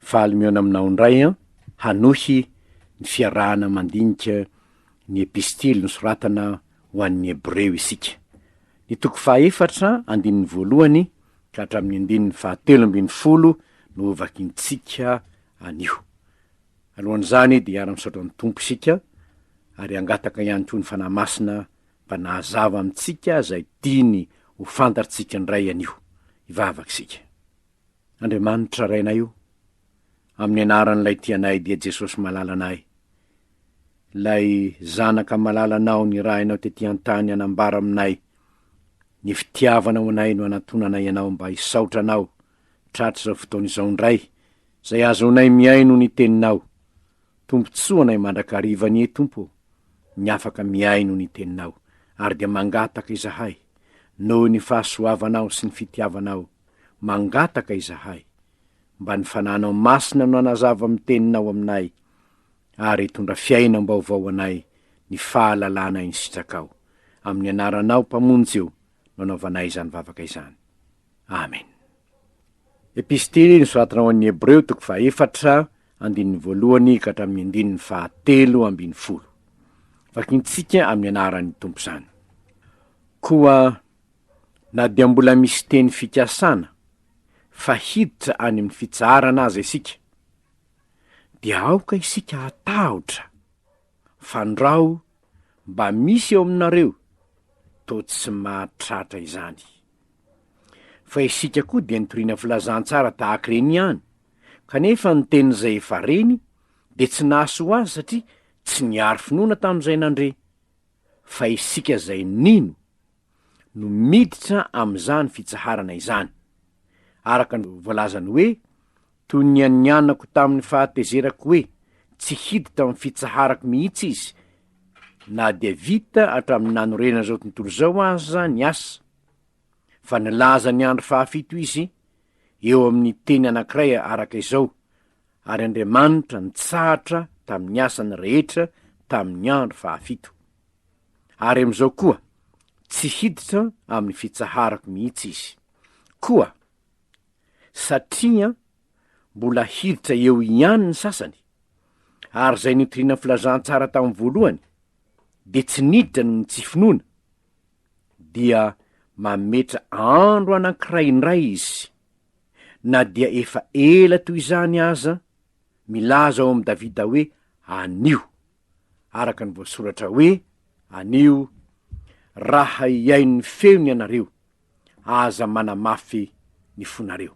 Faly mihaona aminao indray an! Hanohy ny fiarahana mandinika ny Epistily nosoratana ho an'ny Hebreo isika. Ny toko fahaefatra, andininy voalohany ka hatramin'ny andininy fahatelo ambin'ny folo no hovakintsika anio. Alohan'izany dia hiara-misaotra ny Tompo isika ary hangataka ihany koa ny Fanahy Masina mba nahazava amintsika izay tiany ho fantatrtsika indray anio. Hivavaka isika. Andriamanitra Rainay o, amin'ny anaran'ilay tia anay dia Jesosy malalanay, ilay Zanaka malalanao nirahinao tety an-tany hanambara aminay ny fitiavanao anay no anatonanay ianao mba hisaotra anao tratr'izao fotoana izao indray izay ahazoanay mihaino ny teninao. Tombontsoa anay mandrakariva anie Tompo ô, ny afaka mihaino ny teninao, ary dia mangataka izahay, noho ny fahasoavanao sy ny fitiavanao, mangataka izahay, mba ny Fananao Masina no hanazava amin'ny teninao aminay, ary hitondra fiainam-baovao anay ny fahalalana ny sitrakao, amin'ny anaranao Mpamonjy io no anaovanay izany vavaka izany. Amen. Epistily nosoratana ho an'ny Hebreo toko fahaefatra, andininy voalohany ka hatramin'ny andininy fahatelo ambin'ny folo. Vakintsika amin'ny anaran'ny Tompo izany. Koa na dia mbola misy teny fikasana fa hiditra any amin'ny fitsaharana aza isika, dia aoka isika hatahotra fandrao mba misy eo aminareo toa tsy mahatratra izany. Fa isika koa dia nitoriana filazantsara tahaka ireny ihany, kanefa ny tenin'izay efa reny dia tsy nahasoa azy satria tsy niaro finoana tamin'izay nandre. Fa isika izay nino no miditra amin'izany fitsaharana izany. Araka ny voalazany hoe, Toy ny an'ny anako tamin'ny fahatezerako hoe tsy hiditra amin'ny fitsaharako mihitsy izy, na dia vita hatramin'ny nanorenana izao tontolo izao aza ny asa, fa nilaza ny andro fahafito izy eo amin'ny teny anankiray araka izao, Ary Andriamanitra nitsahatra tamin'ny asany rehetra tamin'ny andro fahafito. Ary amin'izao koa, tsy hiditra amin'ny fitsaharako mihitsy izy. Koa satria mbola hiditra eo ihany ny sasany, ary izay nitoriana filazantsara tamin'ny voalohany dia tsy niditra noho ny tsy finoana, dia mametra andro anankiray indray izy, na dia efa ela toy izany aza, milaza ao amin'i Davida hoe, Anio, araka ny voasoratra hoe, Anio, raha hihaino ny feony ianareo. aza manamafy ny fonareo.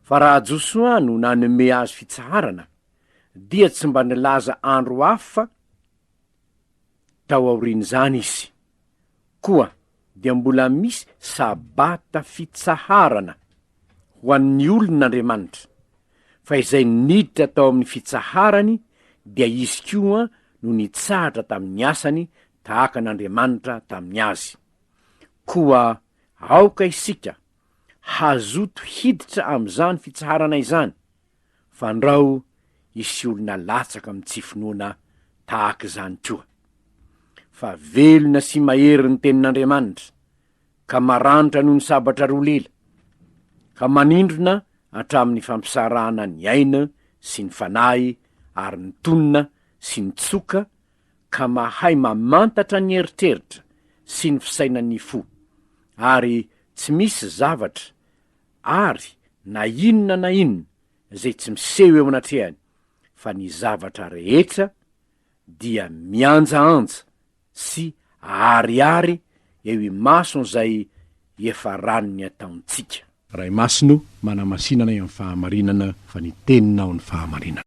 Fa raha Josoa no nanome azy fitsaharana, dia tsy mba nilaza andro hafa tao aorian'izany izy. Koa dia mbola misy sabata fitsaharana ho an'ny olon'Andriamanitra, fa izay niditra tao amin'ny fitsaharany dia izy koa no nitsahatra tamin'ny asany tahaka an'Andriamanitra tamin'ny azy. Koa aoka isika hazoto hiditra amin'izany fitsaharana izany, fandrao hisy olona latsaka amin'ny tsy finoana tahaka izany koa. Fa velona sy mahery ny Tenin'Andriamanitra, ka maranitra noho ny sabatra roa lela, ka manindrona hatramin'ny fampisarahana ny aina sy ny fanahy ary ny tonina sy ny tsoka, ka mahay mamantatra ny eritreritra sy ny fisainan'ny fo, ary tsy misy zavatra ary na inona na inona izay tsy miseho eo anatrehany, fa ny zavatra rehetra dia mianjaanja sy aharihary eo imason'izay efa ran'ny ataontsika. Ray Masina o, manamasinanay amin'ny fahamarinana, fa ny Teninao ny fahamarinana.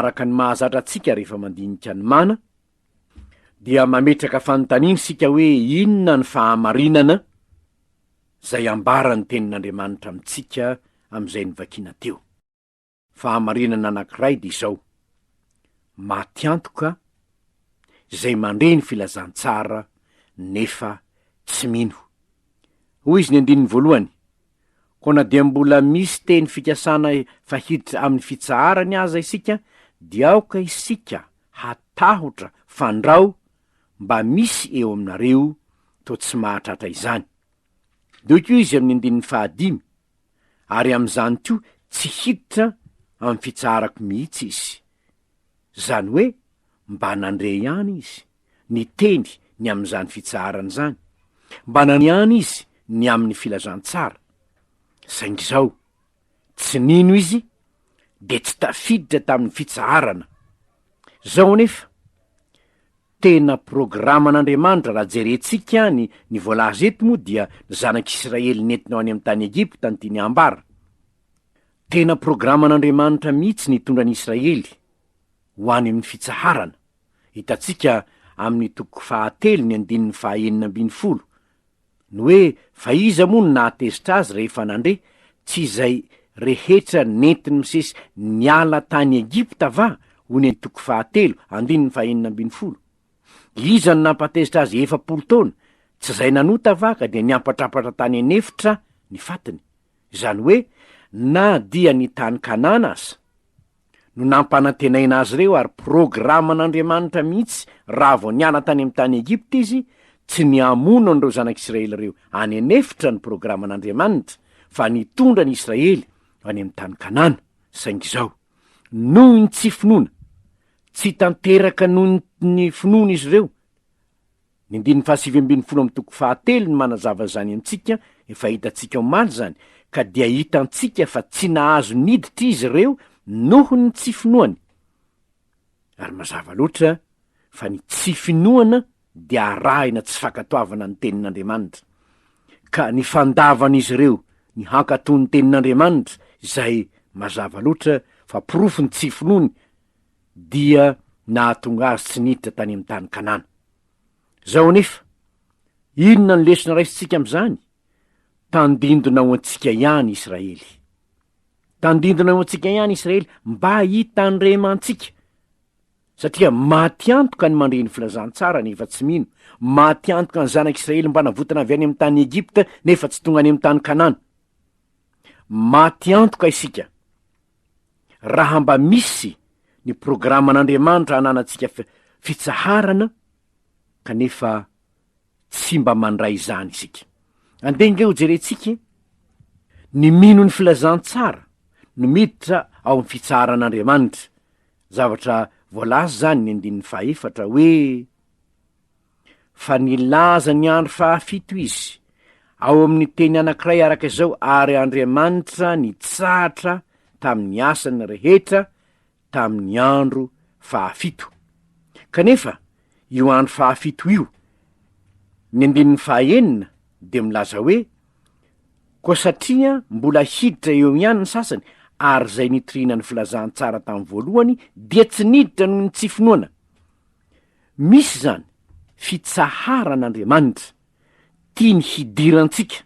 araka ny mahazatra antsika rehefa mandinika ny mana, dia mametraka fanontaniana isika hoe inona ny fahamarinana izay ambaran'ny tenin'Andriamanitra amintsika amin'izay nivakiana teo. Fahamarinana anankiray dia izao, maty antoka izay mandre ny filazantsara nefa tsy mino. Hoy izy ny andininy voalohany, Koa na dia mbola misy teny fikasana fa hiditra amin'ny fitsaharany aza isika, dia aoka isika hatahotra fandrao mba misy eo aminareo toa tsy mahatratra izany. Doiko izy amin'ny andininy fahadimy. ary amin'izany koa tsy hiditra amin'ny fitsaharako mihitsy izy. Izany hoe, mba nandre ihany izy, niteny ny amin'izany fitsaharana izany, mba naniany izy ny amin'ny filazantsara. Saingy izao, tsy nino izy, dia tsy tafiditra tamin'ny fitsaharana. Izao anefa, Tena programan'Andriamanitra raha jerentsika any ny voalaza eto moa dia ny zanak'Israely nentina ho any amin'ny tany Egypta no tiany hambara. Tena programan'Andriamanitra mihitsy ny hitondra ny Israely ho any amin'ny fitsaharana, hitantsika amin'ny toko fahatelo ny andininy faha enina ambin'ny folo, Ny hoe fa iza moa no nahatezitra azy rehefa nandre, tsy izay rehetra nentin'i Mosesy niala tany Egypta va? hoy ny toko fahatelo, andininy fahenina ambin'ny folo. Iza no nampatezitra azy efapolo taona? Tsy izay nanota va ka dia niampatrapatra tany an'efitra ny fatiny? Izany hoe, na dia ny tany Kanana aza. no nampanantenaina azy ireo ary programan'Andriamanitra mihitsy raha vao niala tany amin'ny tany Egypta izy tsy ny hamono an'ireo zanak'Israely ireo any an'efitra ny programan'Andriamanitra fa ny hitondra ny Israely any amin'ny tany Kanana saingy izao noho ny tsy finoana tsy tanteraka noho ny finoan'izy ireo Ny andininy fahasivy ambin'ny folo amin'ny toko fahatelo no manazava izany amintsika, efa hitantsika omaly izany, ka dia hitantsika fa tsy nahazo niditra izy ireo noho ny tsy finoany. Ary mazava loatra fa ny tsy finoana dia arahina tsy fankatoavana ny tenin'Andriamanitra, ka ny fandavan'izy ireo ny hankatò ny tenin'Andriamanitra, izay, mazava loatra, fa porofon'ny tsy finoany, dia nahatonga azy tsy niditra tany amin'ny tany Kanana. Izao anefa, inona no lesona raisintsika amin'izany? Tandindona ho antsika ihany Israely. Tandindona ho antsika ihany Israely mba hitandremantsika. Satria maty antoka ny mandre ny filazantsara nefa tsy mino, maty antoka ny zanak'Israely mba navotana avy any amin'ny tany Egypta nefa tsy tonga any amin'ny tany Kanana. Maty antoka isika raha mba misy ny programan'Andriamanitra ananantsika fitsaharana kanefa tsy mba mandray izany isika. Andeha nge hojerentsika ny mino ny filazantsara no miditra ao amin'ny fitsaharan'Andriamanitra. Zavatra voalaza izany ny andininy fahefatra hoe fa nilaza ny andro fahafito izy, ao amin'ny teny anankiray araka izao, ary Andriamanitra nitsahatra tamin'ny asany rehetra tamin'ny andro fahafito. Kanefa, io andro fahafito io, ny andininy fahaenina, dia milaza hoe, Koa satria mbola hiditra eo ihany ny sasany, ary izay nitoriana ny filazantsara tamin'ny voalohany dia tsy niditra noho ny tsy finoana. Misy izany fitsaharan'Andriamanitra tiany hidirantsika.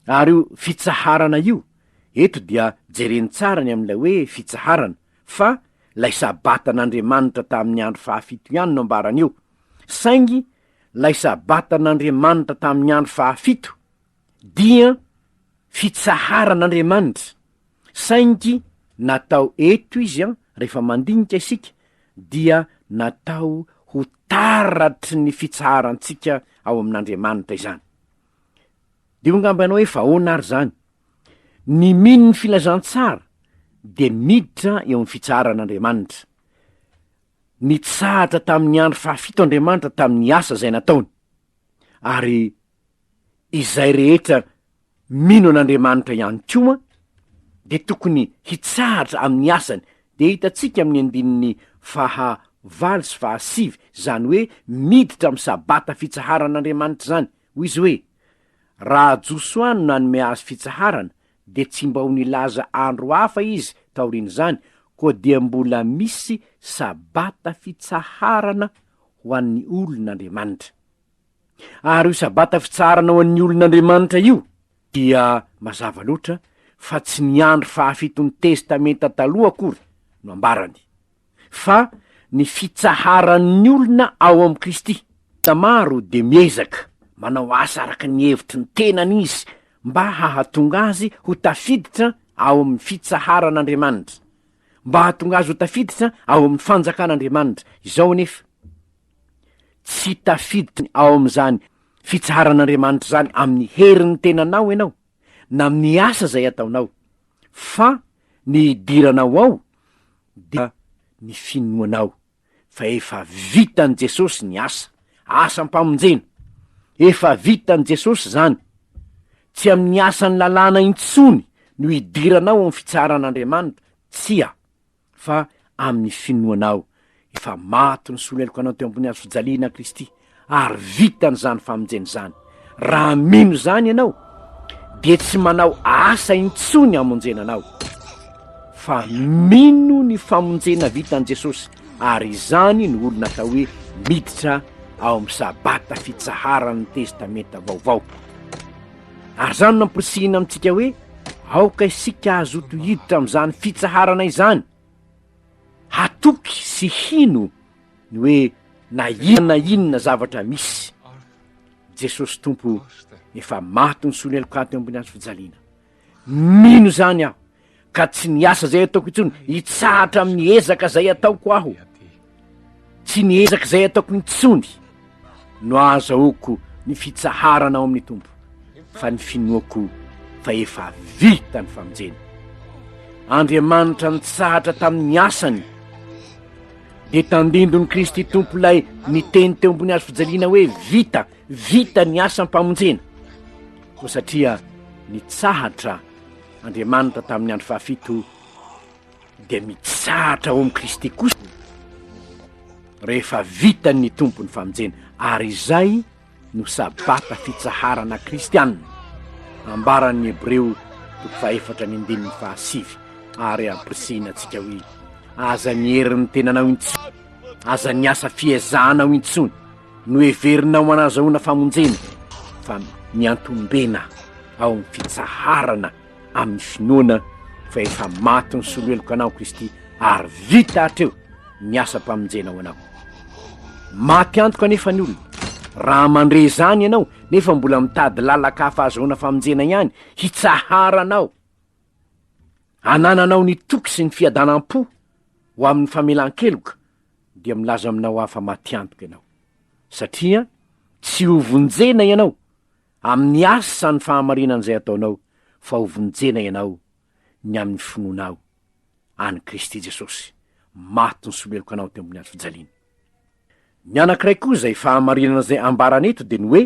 Ary io fitsaharana io, eto dia jereny tsara ny amin'ilay hoe fitsaharana, fa ilay Sabatan'Andriamanitra tamin'ny andro fahafito ihany no ambarany eo, saingy ilay Sabatan'Andriamanitra tamin'ny andro fahafito dia fitsaharan'Andriamanitra Saingy natao eto izy an, rehefa mandinika isika dia natao ho taratry ny fitsaharantsika ao amin'Andriamanitra izany. Diho angamba ianao hoe fa ahoana ary izany? Ny mino ny filazantsara dia miditra eo amin'ny fitsaharan'Andriamanitra. Nitsahatra tamin'ny andro fahafito Andriamanitra tamin'ny asa izay nataony, ary Izay rehetra mino an'Andriamanitra ihany koa dia tokony hitsahatra amin'ny asany, dia hitantsika amin'ny andininy faha valo sy faha sivy izany hoe miditra amin'ny sabata fitsaharan'Andriamanitra izany, hoy izy hoe, Raha Josoa no nanome azy fitsaharana, dia tsy mba ho nilaza andro hafa izy taorian'izany, koa dia mbola misy sabata fitsaharana ho an'ny olon'Andriamanitra. Ary io Sabata fitsaharana ho an'ny olon' Andriamanitra io dia mazava loatra fa tsy ny andro fahafiton'ny Testamenta Taloha akory no ambarany, fa ny fitsaharan'ny olona ao amin'i Kristy. Olona maro dia miezaka manao asa araka ny hevitry ny tenany izy mba hahatonga azy ho tafiditra ao amin'ny fitsaharan' Andriamanitra, mba hahatonga azy ho tafiditra ao amin'ny fanjakan' Andriamanitra. Izao anefa. Tsy tafiditra ao amin'izany fitsaharan'Andriamanitra izany amin'ny herin'ny tenanao ianao, na amin'ny asa izay ataonao, fa ny hidiranao ao dia ny finoanao fa efa vitan'i Jesosy ny asa, asam-pamonjena. Efa vitan'i Jesosy izany. Tsy amin'ny asan'ny lalàna intsony no hidiranao ao amin'ny fitsaharan'Andriamanitra, tsia. fa amin'ny finoanao efa maty ny solelokanao teo ambony hazofijaliana Kristy ary vitany izany famonjena izany. Raha mino izany ianao dia tsy manao asa intsony hamonjena anao fa mino ny famonjena vitan'i Jesosy ary izany no olona atao hoe miditra ao amin'ny sabata fitsaharan'ny testamenta vaovao. Ary izany no nampirisihina amintsika hoe aoka isika hazoto hiditra amin'izany fitsaharana izany, hatoky sy hino ny hoe na inona na inona zavatra misy, Jesosy Tompo efa maty nisolo heloka ato ambony hazo fijaliana. Mino izany aho. ka tsy niasa izay ataoko intsony, hitsahatra amin'ny ezaka izay ataoko aho. Tsy ny ezaka izay ataoko intsony no ahazahoako ny fitsaharana ao amin'ny Tompo, fa ny finoako fa efa vita ny famonjena. Andriamanitra nitsahatra tamin'ny asany, dia tandindon'i Kristy Tompo ilay niteny teo ambony hazo fijaliana hoe vita, vita ny asam-pamonjena. Koa satria nitsahatra Andriamanitra tamin'ny andro fahafito dia mitsahatra ao amin'i Kristy kosa rehefa vitan'ny tompo ny famonjena ary izay no sabata fitsaharana kristianina ambaran'ny hebreo toko fahefatra ny andininy fahasivy ary ampirisihina antsika hoe aza ny herin'ny tenanao intsony aza ny asa fiezahana ao intsony Noheverina ho anazahoana famonjena fa miantombena ao amin'ny fitsaharana amin'ny finoana fa efa maty ny soloheloka anao Kristy ary vita hatreo ny asam-pamonjena ho anao. Maty antoka anefa ny olona raha mandre izany ianao nefa mbola mitady lalaka hafa azahoana famonjena ihany hitsaharanao. Anananao ny toky sy ny fiadanam-po ho amin'ny famelan-keloka dia milaza aminao aho fa matiantoka ianao, satria tsy ho vonjena ianao amin'ny asan'ny fahamarinan'izay ataonao, fa ho vonjena ianao ny amin'ny finoanao an'i Kristy Jesosy, maty nisoleloka anao teo ambony hazo fijaliana. Ny anankiray koa izay fahamarinana izay ambarany eto dia ny hoe,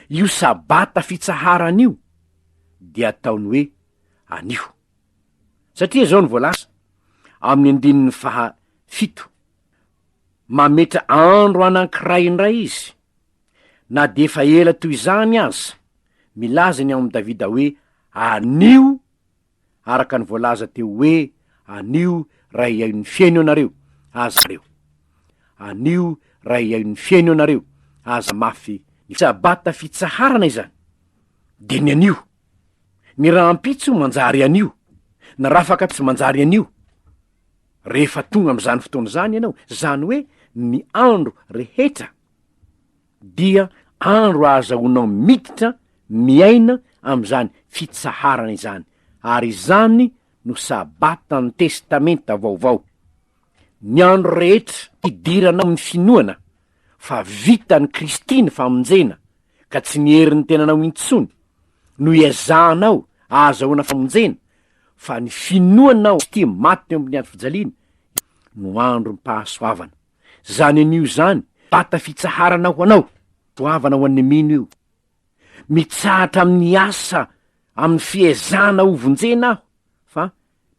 io sabata fitsaharana io dia ataony hoe anio. Satria izao no voalaza amin'ny andininy faha fito, Mametra andro anankiray indray Izy, na dia efa ela toy izany aza, milaza ny ao amin'i Davida hoe, Anio, araka ny voalaza teo hoe, Anio ray aio ny feno ianareo, aza reo. Anio ray aio ny feno ianareo, aza mafy ny sabata fitsaharana izany, dia ny anio. Ny rahampitso manjary anio, ny rafaka tsy manjary anio. Rehefa tonga amin'izany fotoana izany ianao, izany hoe ny andro rehetra, dia andro ahazahoanao miditra miaina amin'izany fitsaharana izany, ary izany no Sabatan'ny Testamenta Vaovao. Ny andro rehetra idiranao amin'ny finoana. fa vitan'i Kristy ny famonjena ka tsy ny herin'ny tenanao intsony no iezahanao ahazahoana famonjena fa ny finoanao Kristy maty teo amin'ny andro fijaliana no androm-pahasoavana. Zany anio zany vata fitsaharana ho anao, soavana ho an'ny mino io. Mitsahatra amin'ny asa amin'ny fiezahana hovonjena aho fa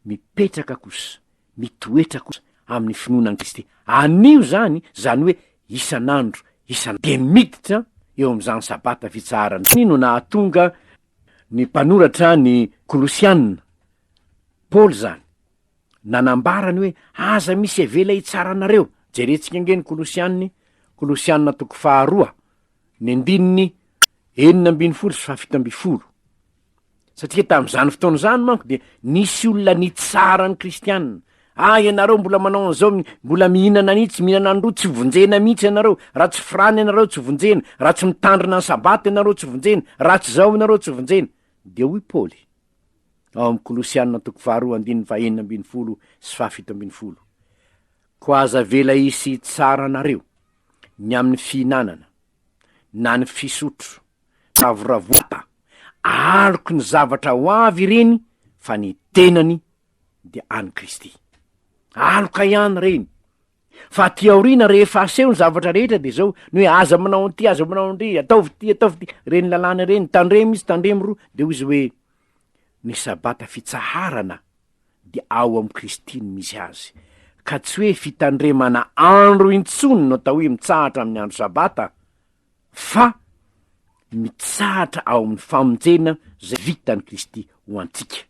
mipetraka kosa, mitoetra kosa amin'ny finoana an'i Kristy. Anio izany, izany hoe isan'andro, isan'andro. Dia miditra eo amin'izany Sabata fitsaharana izany no nahatonga ny mpanoratra ny Kolosiana, Paoly izany, nanambara ny hoe, Aza misy avela hitsara anareo. Jerentsika ange ny Kolosiany, Kolosiana toko faharoa, ny andininy enina ambin'ny folo sy fahafito ambin'ny folo. Satria tamin'izany fotoana izany manko dia nisy olona nitsara ny kristianina. Ah, ianareo mbola manao an'izao, mi- mbola mihinana an'io, tsy mihinana an'ireo, tsy vonjena mihitsy ianareo, raha tsy firana ianareo tsy vonjena, raha tsy mitandrina ny sabata ianareo tsy vonjena, raha tsy izao ianareo tsy vonjena. Dia hoy Paoly, ao amin'ny Kolosianina toko faharoa andininy fahenina ambin'ny folo sy fahafito ambin'ny folo, Koa aza avela hisy hitsara anareo ny amin'ny fihinanana, na ny fisotro, ravoravoata, aloky ny zavatra ho avy ireny fa ny tenany dia an'i Kristy. Aloka ihany ireny, fa aty aoriana rehefa aseho ny zavatra rehetra dia izao, ny hoe aza manao an'ity, aza manao an'ndry, ataovy ity, ataovy ity, ireny lalàna ireny, tandremo izy, tandremo roa, dia hoy izy hoe, ny sabata fitsaharana dia ao amin'i Kristy no misy azy, ka tsy hoe fitandremana andro intsony no atao hoe mitsahatra amin'ny andro Sabata, fa mitsahatra ao amin'ny famonjena izay vitan'i Kristy ho antsika.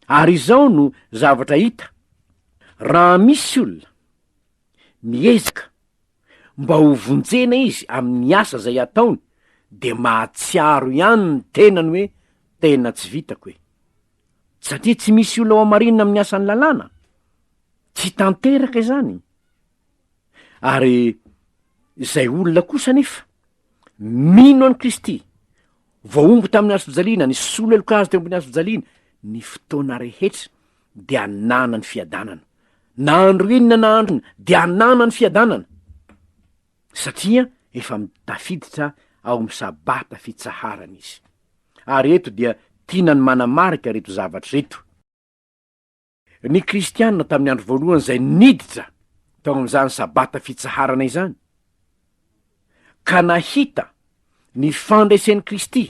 Ary izao no zavatra hita, raha misy olona miezaka mba ho vonjena izy amin'ny asa izay ataony, dia mahatsiaro ihany ny tenany hoe, Tena tsy vitako e! Satria tsy misy olona hohamarinina amin'ny asan'ny lalàna. Tsy tanteraka izany. Ary izay olona kosa anefa mino an'i Kristy, voahongo tamin'ny hazofijaliana, nisolo heloka azy teo ambony hazofijaliana, ny fotoana rehetra dia hanana ny fiadanana. Na andro inona na andro inona dia hanana ny fiadanana. satria efa tafiditra ao amin'ny sabata fitsaharana izy. Ary eto dia tiana ny manamarika ireto zavatra ireto. Ny Kristianina tamin'ny andro voalohany izay niditra tao amin'izany sabata fitsaharana izany, ka nahita ny fandresen'i Kristy,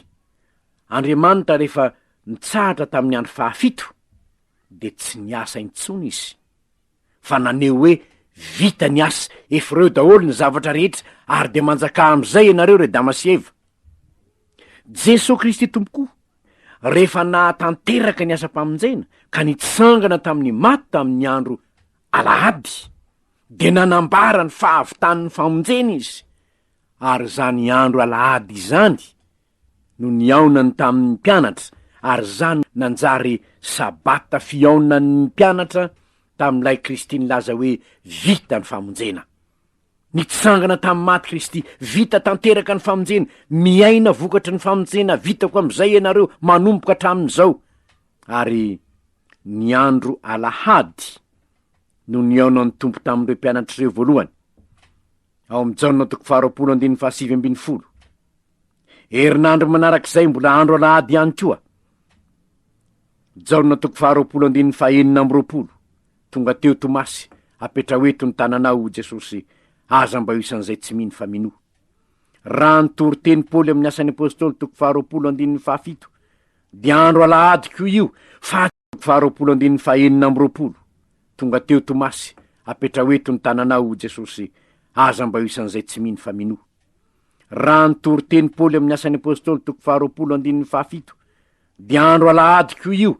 Andriamanitra rehefa nitsahatra tamin'ny andro fahafito, dia tsy niasa intsony izy. fa naneho hoe vita ny asa, efa ireo daholo ny zavatra rehetra, ary dia manjakà amin'izay ianareo ry Adama sy Eva. Jesoa Kristy Tompokò, rehefa nahatanteraka ny asam-pamonjena, ka nitsangana tamin'ny maty tamin'ny andro alahady, dia nanambara ny fahavitan'ny famonjena Izy, ary izany andro alahady izany, no nihaonany tamin' ny mpianatra, ary izany nanjary sabata fihaonan' ny mpianatra tamin' ilay Kristy nilaza hoe vita ny famonjena. Nitsangana tamin'ny maty Kristy, vita tanteraka ny famonjena, miaina vokatry ny famonjena vitako amin' izay ianareo manomboka hatramin' izao. Ary ny andro alahady no nihaonan' ny Tompo tamin' ireo mpianatra ireo voalohany, ao amin' i Jaona toko faharoapolo andininy fahasivy ambin'ny folo. Herinandro manarak'izay mbola andro alahady ihany koa. Jaona toko faharoapolo andininy fahenina amby roapolo, Tonga teo Tomasy, apetraho eto ny tananao, hoy Jesosy, aza mba ho isan'izay tsy mino fa minoa. Raha ny toriteny Paoly amin'ny Asan'ny Apostoly toko faharoapolo andininy fahafito, dia andro alahady koa io, fa Faharoapolo andininy fahenina amby roapolo, Tonga teo Tomasy, apetraho eto ny tananao, hoy Jesosy, aza mba ho isan'izay tsy mino fa minoa. Raha ny toriteny Paoly amin'ny Asan'ny Apostoly toko faharoapolo andininy fahafito, dia andro alahady koa io